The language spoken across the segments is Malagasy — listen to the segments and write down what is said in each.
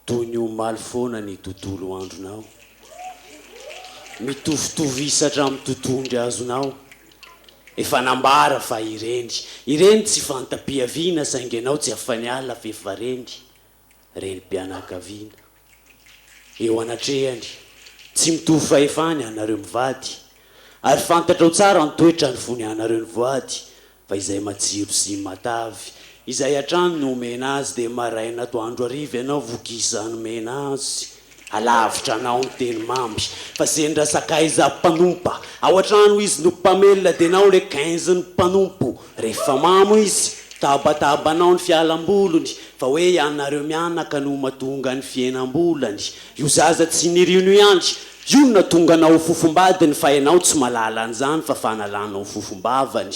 Toy ny omaly foana ny tontolo andronao, mitovitovy isa hatramin'ny totohondry azonao. Efa nambara fa ireny, ireny tsy fanta-piaviana saingy ianao tsy afa-niala f'efa reny. renim-pianakaviana. Eo anatrehany, tsy mitovy fahefana ianareo mivady, ary fantatrao tsara ny toetra ny fony ianareo nivoady, fa izay matsiro sy matavy, izay hatrany no omena azy, dia maraina atoandro hariva ianao vogisano mena azy. Alavitra anao ny teny mamy fa ze ndra sakaiza mpanompa ao atrano izy no mpamelona de nao le quinze ny mpanompo rehefa mamo izy tabataba anao ny fialambolony fa hoe ianareo mianaka no matonga ny fihenambolany io zaza tsy nirino ihany io no natonga anao ho fofombadiny fa enao tsy malala anzany fa fanalanao fofombavany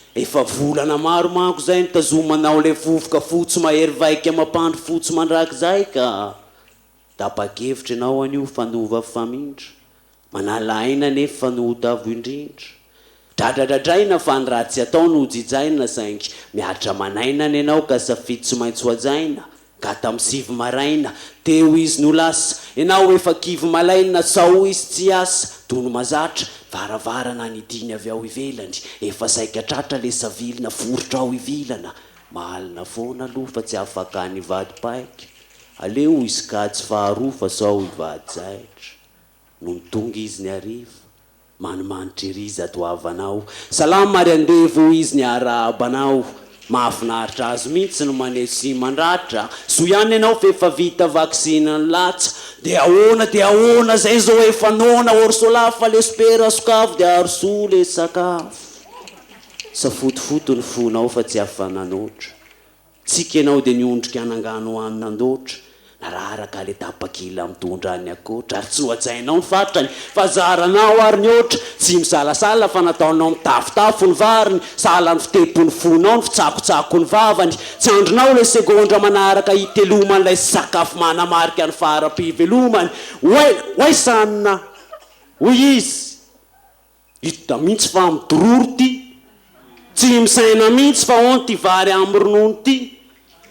Efa volana maro manko zay nitazomanao le vovoka fotsy mahery vaika mampandry fotsy mandraky zay ka! Tapa-kevitra ianao anio fa nova famindra, manala aina anefa fa nohotavo indrindra. Dradradradraina fa ny ratsy atao no jijaina saingy mihatra aman'aina ny anao ka safidy tsy maintsy hohajaina, Ka tam sivy maraina teo izy no lasa Enao efa kivy malaina Sao izy tsy hiasa Tono mazatra varavarana Ny diny avy ao ivelany Efa saika tratra le savilina Foritra ao ivilana Mahalina foana aloha Fa tsy afaka any vady paika Aleo hisy kajy faharoa Fa sao hivady zaitra Nony tonga izy ny hariva, manimanitra ery izato havanao, Salama ary andevo hoy izy niarahaba anao, Mahafinaritra azy mihitsy ny maneho sy mandratra, Soa ihany ianao f'efa vita vaksiny ny latsa, Dia ahoana dia ahoana izay zao efa noana, Orsola fa le sopera sokafy dia arosoa le sakafo, Safotofoto ny fonao fa tsy afa-nanoatra, Tsiky ianao dia niondrika hanangano hanina an-doatra, nararaka aleta pakila mitondra ny akoatra, ary tsy nohajainao ny fatrany fa zaranao ary ny hoatra, tsy misalasala fa nataonao mitafotafo ny variny, sahala ny fitepon'ny fonao ny fitsakotsakon'ny vavany, tsy andrinao ilay segondra manaraka hitelomany ilay sakafo manamarika ny fara-pivelomany, oay, oay sanina! hoy izy. Hita mihitsy fa midororo ty. Tsy misaina mihitsy fa hono ty vary amin'ny ronono ty.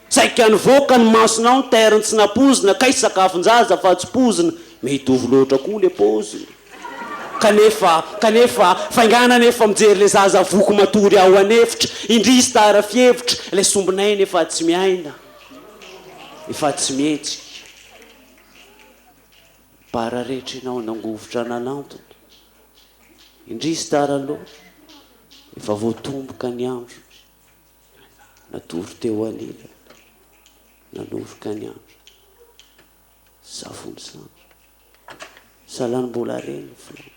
Saika nivoaka ny masonao ny terny tsy nampoizina kay sakafon-jaza fa tsy poizina. Mitovy loatra koa le paoziny. Kanefa, kanefa, fainganana efa mijery le zaza voky matory ao an'efitra. Indrisy tara fihevitra, le sombin'aina efa tsy miaina. Efa tsy mihetsika. Bara rehetra enao nangovitra nanantona. Indrisy tara aloha, efa voatomboka ny andro. Natory teo anilany, nanoroka ny andro. Safon'ny sampy. Salan'ny mbola reny ny filàna.